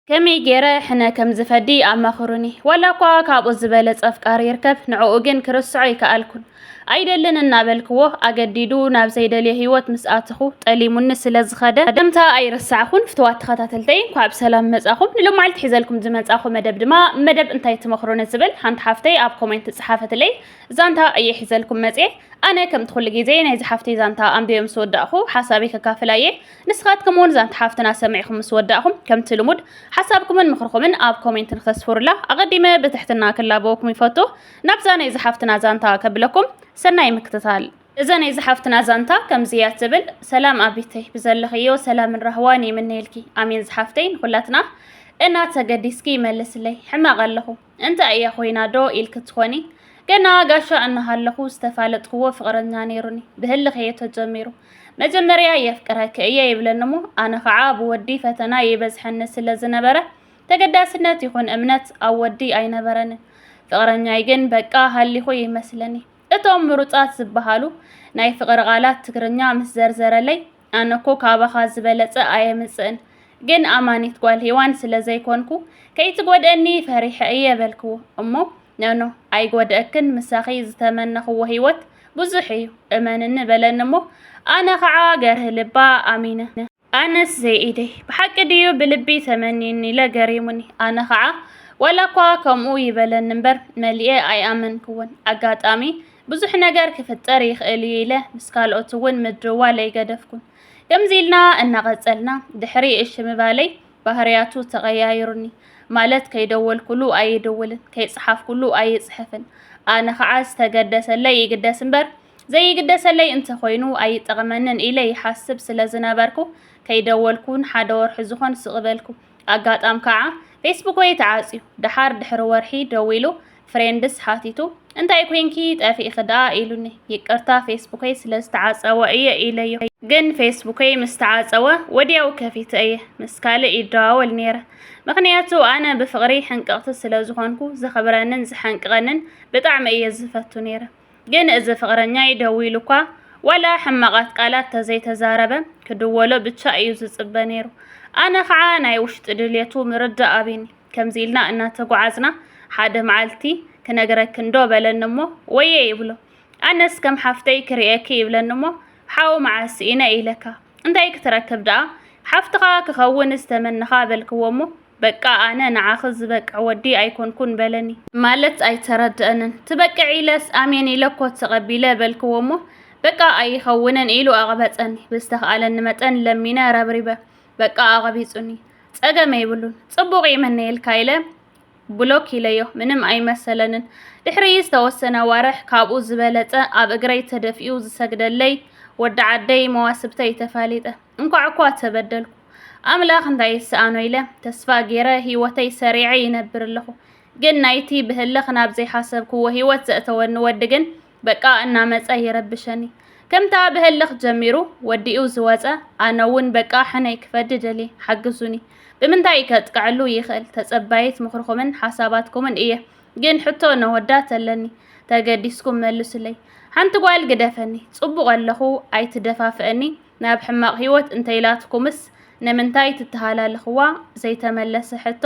ከመይ ገይረ ሕነ ከም ዝፈዲ ኣማኽሩኒ። ዋላ እኳ ካብኡ ዝበለጸ ኣፍቃሪ ይርከብ፣ ንዕኡ ግን ክርስዖ ኣይከኣልኩን። ኣይደልን እናበልክዎ ኣገዲዱ ናብ ዘይደልዮ ህይወት ምስ ኣተኹ ጠሊሙኒ ስለ ዝኸደ ከምታ ኣይረሳዕኹን። ፍትዋት ተኸታተልተይ እንኳዕ ብሰላም መጻኹም። ንሎማዓልቲ ሒዘልኩም ዝመጻኹ መደብ ድማ መደብ እንታይ ትመኽሩኒ ዝብል ሓንቲ ሓፍተይ ኣብ ኮሜንት ዝጸሓፈትለይ ዛንታ እየ ሒዘልኩም መጽየ። ኣነ ከምቲ ኩሉ ግዜ ናይዚ ሓፍተይ ዛንታ ኣንቢበ ምስ ወዳእኹ ሓሳበይ ከካፍላ እየ። ንስኻትኩም እውን ዛንታ ሓፍትና ሰሚዕኹም ምስ ወዳእኹም ከምቲ ልሙድ ሓሳብኩምን ምኽርኹምን ኣብ ኮሜንት ንኸስፍሩላ ኣቐዲመ ብትሕትና ክላበወኩም ይፈቱ። ናብዛ ናይ ዝሓፍትና ዛንታ ከብለኩም ሰናይ ምክትታል። እዛ ናይ ዝሓፍትና ዛንታ ከምዚ እያ ትብል። ሰላም ኣቢተይ ብዘለኽዮ ሰላምን ራህዋን ይምነየልኪ። ኣሜን ዝሓፍተይ ንኹላትና እና ተገዲስኪ ይመልስለይ ሕማቕ ኣለኹ። እንታይ እያ ኮይና ዶ ኢልኪ ትኾኒ? ገና ጋሻ እናሃለኹ ዝተፋለጥክዎ ፍቕረኛ ነይሩኒ። ብህልኽ እየ ተጀሚሩ። መጀመርያ የፍቅረኪ እየ ይብለኒሞ ኣነ ኸዓ ብወዲ ፈተና ይበዝሐኒ ስለ ዝነበረ ተገዳስነት ይኹን እምነት ኣብ ወዲ ኣይነበረንን። ፍቕረኛይ ግን በቃ ሃሊኹ ይመስለኒ። እቶም ምሩፃት ዝበሃሉ ናይ ፍቕሪ ቃላት ትግርኛ ምስ ዘርዘረለይ ኣነ እኮ ካባኻ ዝበለጸ ኣየምጽእን፣ ግን ኣማኒት ጓል ሄዋን ስለ ዘይኮንኩ ከይትጎድእኒ ፈሪሐ እየ በልክዎ። እሞ ኖኖ ኣይጎድእክን ምሳኺ ዝተመነኽዎ ህይወት ብዙሕ እዩ እመንኒ በለኒ እሞ ኣነ ኸዓ ገርህ ልባ ኣሚነ። ኣነስ ዘይኢደይ ብሓቂ ድዩ ብልቢ ተመንዩኒ ኢለ ገሪሙኒ። ኣነ ኸዓ ዋላ እኳ ከምኡ ይበለኒ እምበር መሊኤ ኣይኣመንክዎን። ኣጋጣሚ ብዙሕ ነገር ክፍጠር ይኽእል እዩ ኢለ ምስ ካልኦት እውን ምድዋል ኣይገደፍኩን። ከምዚ ኢልና እናቐጸልና ድሕሪ እሺ ምባለይ ባህርያቱ ተቐያይሩኒ። ማለት ከይደወልኩሉ ኣይድውልን፣ ከይጸሓፍኩሉ ኣይጽሕፍን። ኣነ ኸዓ ዝተገደሰለይ ይግደስ እምበር ዘይግደሰለይ እንተኾይኑ ኣይጠቕመንን ኢለ ይሓስብ ስለዝነበርኩ ከይደወልኩ ንሓደ ወርሒ ዝኾን ስቕ በልኩ። ኣጋጣም ከኣ ፌስቡከይ ተዓጽዩ። ደሓር ድሕሪ ወርሒ ደዊሉ ፍሬንድስ ሓቲቱ እንታይ ኮንኪ ጠፊእኺ ደኣ ኢሉኒ። ይቅርታ ፌስቡከይ ስለ ዝተዓጸወ እየ ኢለዮ። ግን ፌስቡከይ ምስ ተዓጸወ ወድያው ከፊተ እየ ምስ ካልእ ይደዋወል ነይረ። ምኽንያቱ ኣነ ብፍቕሪ ሕንቅቕቲ ስለ ዝኾንኩ ዘኽብረንን ዝሓንቅቐንን ብጣዕሚ እየ ዝፈቱ ነይረ። ግን እዚ ፍቕረኛይ ደዊሉኳ ዋላ ሕማቓት ቃላት ተዘይተዛረበ ክድወሎ ብቻ እዩ ዝጽበ ነይሩ። ኣነ ኸዓ ናይ ውሽጢ ድልየቱ ምርዳእ ኣቢኒ ከምዚ ኢልና እናተጓዓዝና ሓደ መዓልቲ ክነግረክንዶ በለኒ እሞ ወየ ይብሎ ኣነስ ከም ሓፍተይ ክርእየኪ ይብለኒ እሞ ሓው መዓስ ስኢነ ኢለካ እንታይ ክትረክብ ደኣ ሓፍትኻ ክኸውን ዝተመነኻ በልክዎ እሞ በቃ ኣነ ንዓኺ ዝበቅዕ ወዲ ኣይኮንኩን በለኒ። ማለት ኣይተረድኣንን። ትበቅዕ ኢለስ ኣሜን ኢለ ኮት ተቐቢለ በልክዎ እሞ በቃ ኣይኸውንን ኢሉ ኣቕበጸኒ። ብዝተኽኣለኒ መጠን ለሚነ ረብሪበ በቃ ኣቐቢጹኒ። ጸገም የይብሉን ጽቡቕ ይምነየልካ ኢለ ብሎክ ኢለዮ። ምንም ኣይመሰለንን። ድሕሪ ዝተወሰነ ኣዋርሕ ካብኡ ዝበለጸ ኣብ እግረይ ተደፊኡ ዝሰግደለይ ወዲ ዓደይ መዋስብተይ ተፋሊጠ። እንኳዕ እኳ ተበደልኩ። ኣምላኽ እንታይ ይሰኣኖ ኢለ ተስፋ ገይረ ህይወተይ ሰሪዐ ይነብር ኣለኹ። ግን ናይቲ ብህልኽ ናብ ዘይሓሰብክዎ ህይወት ዘእተወኒ ወዲ ግን በቃ እናመጸ ይረብሸኒ። ከምታ ብህልኽ ጀሚሩ ወዲኡ ዝወጸ ኣነ እውን በቃ ሕነይ ክፈዲ ደልየ ሓግዙኒ። ብምንታይ ከጥቅዐሉ ይኽእል? ተጸባይት ምኽርኹምን ሓሳባትኩምን እየ። ግን ሕቶ ነወዳት ኣለኒ ተገዲስኩም መልሱለይ። ሓንቲ ጓል ግደፈኒ፣ ጽቡቕ ኣለኹ ኣይትደፋፍአኒ፣ ናብ ሕማቕ ህይወት እንተኢላትኩምስ ንምንታይ ትተሃላልኽዋ ዘይተመለሰ ሕቶ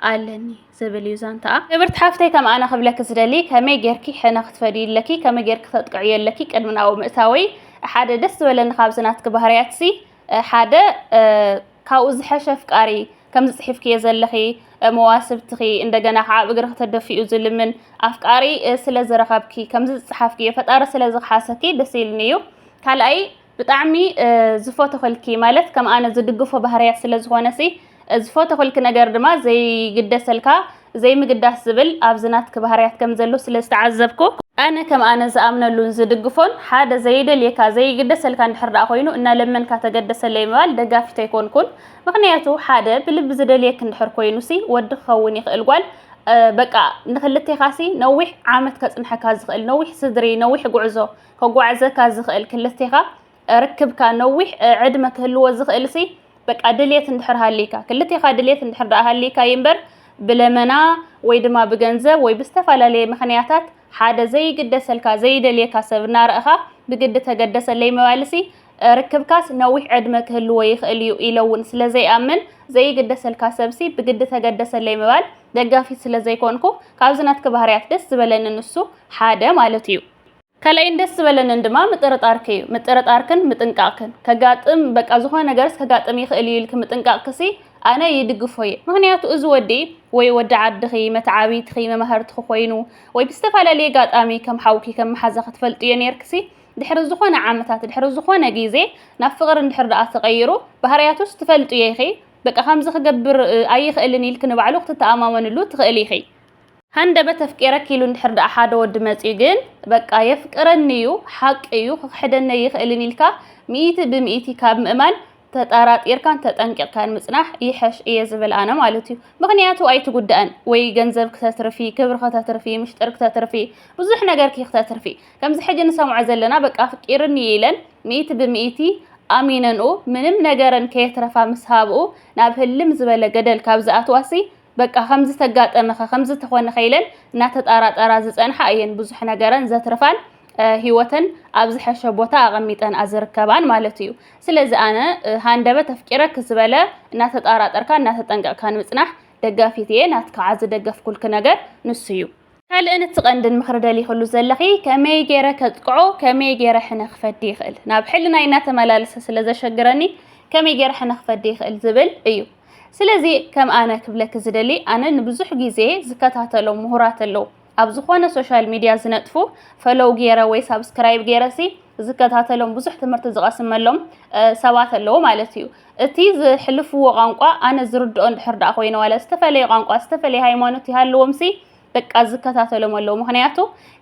ኣለኒ ዝብል እዩ ዛንታኣ። ክብርቲ ሓፍተይ ከም ኣነ ክብለኪ ዝደሊ ከመይ ጌርኪ ሕነ ክትፈድዩ ኣለኪ ከመይ ጌርኪ ተጥቅዕዮ ኣለኪ ቅድሚ ናብኡ ምእታወይ ሓደ ደስ ዝበለኒ ካብዚ ናትኪ ባህርያትሲ ሓደ ካብኡ ዝሐሸ ኣፍቃሪ ከምዚ ጽሒፍክዮ ዘለኺ መዋስብትኺ እንደገና ከዓ ኣብ እግርኺ ተደፊኡ ዝልምን ኣፍቃሪ ስለ ዝረኸብኪ ከምዚ ዝጸሓፍክዮ ፈጣሪ ስለ ዝኽሓሰኪ ደስ ኢልኒ እዩ ካልኣይ ብጣዕሚ ዝፎተኸልኪ ማለት ከም ኣነ ዝድግፎ ባህርያት ስለ ዝኾነ ሲ ዝፎተኸልኪ ነገር ድማ ዘይግደሰልካ ዘይምግዳስ ዝብል ኣብዚ ናትኪ ባህርያት ከም ዘሎ ስለ ዝተዓዘብኩ፣ ኣነ ከም ኣነ ዝኣምነሉን ዝድግፎን ሓደ ዘይደልየካ ዘይግደሰልካ እንድሕር ደኣ ኮይኑ እናለመንካ ተገደሰለይ ምባል ደጋፊት ኣይኮንኩን ምኽንያቱ ሓደ ብልቢ ዝደልየኪ እንድሕር ኮይኑሲ ወዲ ክኸውን ይኽእል ጓል በቃ ንክልቴኻሲ ነዊሕ ዓመት ከጽንሐካ ዝኽእል ነዊሕ ስድሪ ነዊሕ ጉዕዞ ከጓዕዘካ ዝኽእል ክልቴኻ ርክብካ ነዊሕ ዕድመ ክህልዎ ዝኽእል ሲ በቃ ድሌት እንድሕር ሃልይካ ክልቴኻ ድሌት እንድሕር ደኣ ሃልይካ እዩ እምበር ብለመና ወይ ድማ ብገንዘብ ወይ ብዝተፈላለየ ምኽንያታት ሓደ ዘይግደሰልካ ዘይደልየካ ሰብ እናረእኻ ብግዲ ተገደሰለይ ምባልሲ ርክብካስ ነዊሕ ዕድመ ክህልዎ ይኽእል እዩ ኢለ እውን ስለ ዘይኣምን ዘይግደሰልካ ሰብሲ ብግዲ ተገደሰለይ ምባል ደጋፊት ስለ ዘይኮንኩ ካብዚ ናትኪ ባህርያት ደስ ዝበለኒ ንሱ ሓደ ማለት እዩ። ካልኣይን ደስ ዝበለንን ድማ ምጥርጣርኪ እዩ። ምጥርጣርክን ምጥንቃቕክን፣ ከጋጥም በቃ ዝኾነ ነገርስ ከጋጥም ይኽእል እዩ ኢልኪ ምጥንቃቕክሲ ኣነ ይድግፎ እየ። ምኽንያቱ እዚ ወዲ ወይ ወዲ ዓድኺ፣ መተዓብይትኺ፣ መማህርትኺ ኮይኑ ወይ ብዝተፈላለየ ኣጋጣሚ ከም ሓውኪ ከም መሓዛኺ ትፈልጥዮ ኔርክሲ ድሕሪ ዝኾነ ዓመታት ድሕሪ ዝኾነ ግዜ ናብ ፍቕሪ እንድሕር ደኣ ተቐይሩ ባህርያቱስ ትፈልጥዮ ኢኺ በቃ ከምዚ ክገብር ኣይኽእልን ኢልኪ ንባዕሉ ክትተኣማመንሉ ትኽእሊ ኢኺ። ሃንደበት ኣፍቂረኪ ኢሉ እንድሕር ደኣ ሓደ ወዲ መጺኡ ግን በቃ የፍቅረኒ እዩ ሓቂ እዩ ክኽሕደኒ ኣይኽእልን ኢልካ ሚእቲ ብሚእቲ ካብ ምእማን ተጠራጢርካን ተጠንቂቕካን ምጽናሕ ይሐሽ እየ ዝብል ኣነ ማለት እዩ ምኽንያቱ ኣይትጉዳእን ወይ ገንዘብ ክተትርፊ ክብሪ ክተትርፊ ምሽጥር ክተትርፊ ብዙሕ ነገርኪ ክተትርፊ ከምዚ ሕጂ ንሰምዖ ዘለና በቃ ኣፍቂርኒ እዩ ኢለን ሚእቲ ብሚእቲ ኣሚነንኡ ምንም ነገረን ከየትረፋ ምስ ሃብኡ ናብ ህልም ዝበለ ገደል ካብ ዝኣትዋሲ በቃ ከምዚ ተጋጠመኸ ከምዚ ተኾነኸ ኢለን እናተጣራጠራ ዝፀንሓ እየን ብዙሕ ነገረን ዘትርፋን ሂወተን ኣብ ዝሐሸ ቦታ ኣቐሚጠን ኣዝርከባን ማለት እዩ። ስለዚ ኣነ ሃንደበት ኣፍቂረኪ ዝበለ እናተጣራጠርካ እናተጠንቀቕካ ንምፅናሕ ደጋፊት እየ። ናትካ ዓዚ ደገፍኩልኪ ነገር ንሱ እዩ። ካልእን እቲ ቀንድን ምኽሪ ደሊኽሉ ዘለኺ ከመይ ገይረ ከጥቅዖ ከመይ ገይረ ሕነ ክፈዲ ይኽእል ናብ ሕልናይ እናተመላለሰ ስለ ዘሸግረኒ ከመይ ገይረ ሕነ ክፈዲ ይኽእል ዝብል እዩ ስለዚ ከም ኣነ ክብለኪ ዝደሊ ኣነ ንብዙሕ ግዜ ዝከታተሎም ምሁራት ኣለዉ ኣብ ዝኾነ ሶሻል ሚድያ ዝነጥፉ ፈሎው ገይረ ወይ ሳብስክራይብ ገይረሲ ዝከታተሎም ብዙሕ ትምህርቲ ዝቐስመሎም ሰባት ኣለዉ ማለት እዩ እቲ ዝሕልፍዎ ቋንቋ ኣነ ዝርድኦ እንድሕር ደኣ ኮይነ ዋላ ዝተፈለየ ቋንቋ ዝተፈለየ ሃይማኖት ይሃልዎምሲ በቃ ዝከታተሎም ኣለዎ ምክንያቱ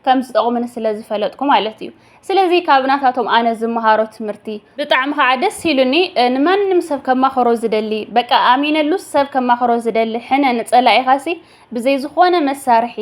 ከም ዝጠቕሙኒ ስለ ዝፈለጥኩ ማለት እዩ ስለዚ ካብ ናታቶም ኣነ ዝመሃሮ ትምህርቲ ብጣዕሚ ከዓ ደስ ኢሉኒ ንማንም ሰብ ከማኽሮ ዝደሊ በቃ ኣሚነሉስ ሰብ ከማኽሮ ዝደሊ ሕነ ንፀላኢኻሲ ብዘይ ዝኾነ መሳርሒ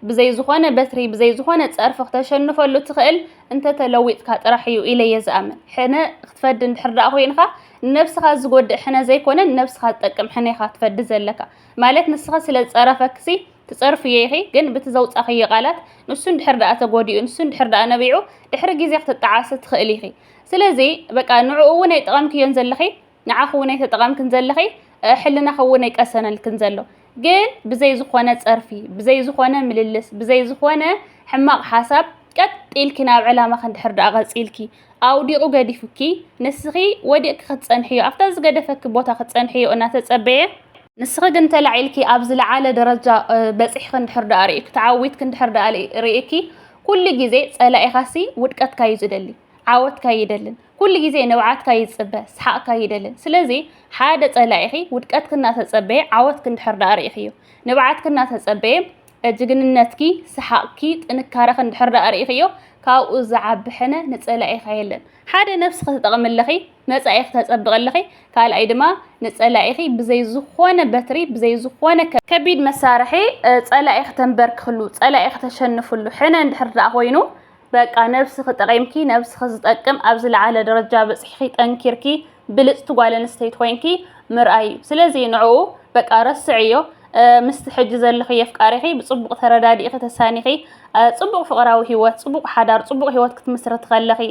ብዘይ ዝኾነ በትሪ ብዘይ ዝኾነ ጸርፊ ክተሸንፈሉ እትኽእል እንተ ተለዊጥካ ጥራሕ እዩ ኢለ እየ ዝኣምን። ሕነ ክትፈዲ እንድሕር ደኣ ኮይንኻ ንነብስኻ ዝጎድእ ሕነ ዘይኮነ ንነብስኻ ዝጠቅም ሕነ ኢኻ ትፈዲ ዘለካ። ማለት ንስኺ ስለ ዝጸረፈክሲ ትጸርፍዮ ኢኺ ግን ብቲ ዘውጻኽዮ ቃላት ንሱ እንድሕር ደኣ ተጎዲኡ ንሱ እንድሕር ደኣ ነቢዑ ድሕሪ ግዜ ክትጠዓሲ ትኽእሊ ኢኺ። ስለዚ በቃ ንዕኡ እውን ኣይጠቐምክዮን ዘለኺ። ንዓኺ እውን ኣይተጠቐምክን ዘለኺ፣ ሕልናኺ እውን ኣይቀሰነልክን ዘሎ። ግን ብዘይ ዝኾነ ጸርፊ፣ ብዘይ ዝኾነ ምልልስ፣ ብዘይ ዝኾነ ሕማቕ ሓሳብ ቀጥ ኢልኪ ናብ ዕላማኺ እንድሕር ደኣ ቀጺልኪ ኣውዲቑ ገዲፉኪ ንስኺ ወዲቕኪ ክትጸንሕዮ ኣብታ ዝገደፈኪ ቦታ ክትጸንሕዮ እናተጸበየ ንስኺ ግን ተላዒልኪ ኣብ ዝለዓለ ደረጃ በጺሕኺ እንድሕር ደኣ ርእይኪ ተዓዊትኪ እንድሕር ደኣ ርእይኪ ኩሉ ግዜ ጸላኢኻሲ ውድቀትካ እዩ ዝደሊ ዓወትካ ይደልን ኩሉ ግዜ ንብዓትካ ይጽበ፣ ስሓቕካ ይደልን። ስለዚ ሓደ ጸላኢኺ ውድቀትኪ እናተጸበየ ዓወትኪ እንድሕር ደኣ ርኢኽዮ፣ ንብዓትኪ እናተጸበየ ጅግንነትኪ፣ ስሓቕኪ፣ ጥንካረኺ እንድሕር ደኣ ርኢኽዮ፣ ካብኡ ዝዓቢ ሕነ ንጸላኢኻ የለን። ሓደ ነብስኺ ትጠቕሚ ኣለኺ፣ መጻኢኺ ተጸብቒ ኣለኺ፣ ካልኣይ ድማ ንጸላኢኺ ብዘይ ዝኾነ በትሪ፣ ብዘይ ዝኾነ ከቢድ መሳርሒ ጸላኢኺ ተንበርክኽሉ፣ ጸላኢኺ ተሸንፍሉ ሕነ እንድሕር ደኣ ኮይኑ በቃ ነብስኺ ጠቒምኪ ነብስኺ ዝጠቅም ኣብ ዝለዓለ ደረጃ በጺሕኺ ጠንኪርኪ ብልጽቲ ጓል ኣንስተይቲ ኮይንኪ ምርኣይ እዩ ስለዚ ንዕኡ በቃ ረስዕዮ ምስቲ ሕጂ ዘለኺ የፍቃሪኺ ብጽቡቕ ተረዳዲእኺ ተሳኒኺ ጽቡቕ ፍቕራዊ ህይወት ጽቡቕ ሓዳር ጽቡቕ ህይወት ክትምስርቲ ከለኺ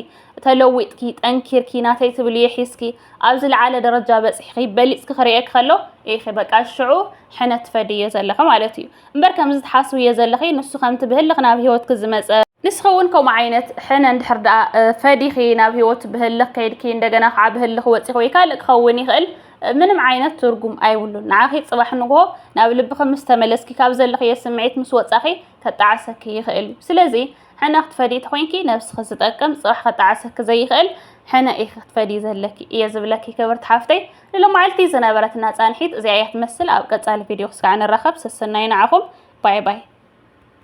ተለዊጥኪ ጠንኪርኪ ናተይ ትብልዮ ሒዝኪ ኣብ ዝለዓለ ደረጃ በጺሕኺ በሊጽኪ ክርእየኪ ከሎ ኢኺ በቃ ሽዑ ሕነ ትፈድዮ ዘለኺ ማለት እዩ እምበር ከምዚ ትሓስብዮ ዘለኺ ንሱ ከምቲ ብህልኽ ናብ ሂወትኪ ዝመጸ ንስኺ እውን ከምኡ ዓይነት ሕነ እንድሕር ደኣ ፈዲኺ ናብ ሂወት ብህልኽ ከይድኪ እንደገና ከዓ ብህልኽ ወፂኺ ወይ ካልእ ክኸውን ይኽእል ምንም ዓይነት ትርጉም ኣይብሉን ንዓኺ ፅባሕ ንግሆ ናብ ልብኺ ምስ ተመለስኪ ካብ ዘለኽዮ ስምዒት ምስ ወፃኺ ከጣዕሰኪ ይኽእል እዩ ስለዚ ሕነ ክትፈዲ ተኮይንኪ ነብስኺ ዝጠቅም ፅባሕ ከጣዕሰኪ ዘይኽእል ሕነ ኢኺ ክትፈዲ ዘለኪ እየ ዝብለኪ ክብርቲ ሓፍተይ ንሎማዕልቲ ዝነበረትና ፃንሒት እዚኣ እያ ትመስል ኣብ ቀፃሊ ቪድዮ ክስካዕ ንራኸብ ሰሰናዩ ንዓኹም ባይ ባይ።